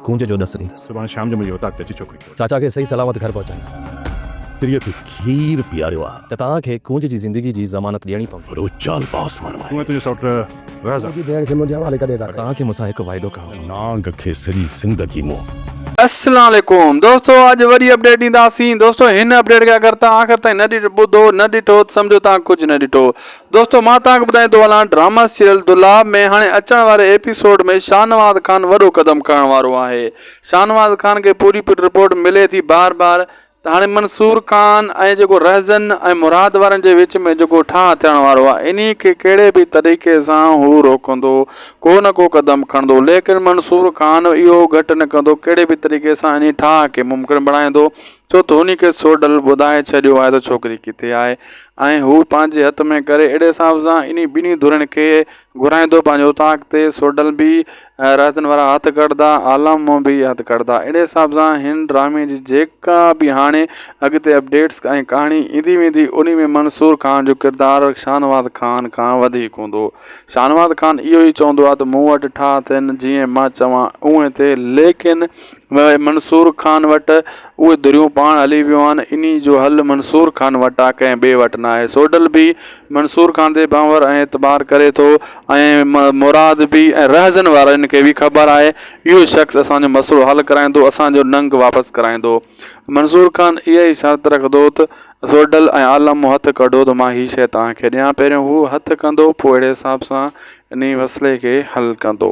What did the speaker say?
ڪونج جو ڏس ڏي. سڀاڻي شام جو منهنجي اوطاق تي اچي ڇوڪري کي وٺ. چاچا کي صحيح سلامت گهر پهچائي. تريء کي کير پياريو آ. ته توهان کي ڪونج جي زندگي جي ضمانت ڏيڻي پوندي. وڏو چالباز ماڻهو آهي. تون ۽ تنهنجو سئوٽ رهه ذرا. منهنجي ڀيڻ کي منهنجي حوالي ڪڏهن ٿا ڪيو. پر توهان کي مون سان هڪ واعدو ڪرڻو پوندو. نانگ کي سري زندگي مون. السلام عليڪم دوستو اڄ وڏي اپڊيٽ ڏينداسين دوستو هن اپڊيٽ کي اگر توهان آخر تائين نه ڏٺو ٻڌو نه ڏٺو ته سمجهو توهان ڪجهه نه ڏٺو دوستو مان توهان کي ٻڌائيندو هلان ڊراما سيريل دولاب ۾ هاڻي اچڻ واري ايپيسوڊ ۾ شاهنواز خان وڏو قدم کڻڻ وارو آهي شاهنواز خان کي پوري پوري رپورٽ ملي ٿي بار بار ته هاڻي منصور خان ۽ جيڪو رهزن ۽ مراد وارن جي وچ ۾ جيڪو ٺاهه ٿيڻ وارو آهي انهي کي ڪهڙي به طريقي سان هو روڪندو ڪو نه ڪو قدم کڻندو ليڪن منصور خان اهو گهٽ نه ڪندو ڪهڙي به طريقي سان انهي ٺاهه کي ممڪن بڻائيندو سو ته هن کي سوڍل ٻڌائي ڇڏيو آهي ته ڇوڪري ڪٿي آهي ۽ هو پنهنجي هٿ ۾ ڪري اهڙي حساب سان انهي ٻنهي ڌرين کي گهرائيندو پنهنجي اوطاق تي سوڍل به راهتين وارا هٿ ڪڍندا عالم به هٿ ڪڍندا اهڙي حساب سان هن ڊرامي جي جيڪا به هاڻي اڳتي اپڊيٽس ۽ ڪهاڻي ايندي ويندي انهي ۾ منصور خان جو ڪردار شاهنواز خان کان وڌيڪ هوندو شاهنواز خان اهو ئي چوندو آهي ته مون وٽ ٺاهه ٿين جيئن مان چوان اونهي ٿئي ليڪن منصور خان وٽ اهي دريون پاڻ هلي ويون آهن انهي جو حل منصور خان وٽ آهي ڪنهن ٻئي وٽ نه آهي سوڍل به منصور خان تي بنور ۽ اعتبار ڪري ٿو ۽ م مراد به ۽ رهزن وارن کي به خبر آهي اهو شخص اسانجو مسئلو حل ڪرائيندو اسانجو ننگ واپس ڪرائيندو منصور خان اها ئي شرط رکندو ته سوڍل ۽ عالم مون هٿ ڪڍو ته مان هي شيء توهان کي ڏيان پهريون هو هٿ ڪندو پوء اهڙي حساب سان انهي مسئلي کي حل ڪندو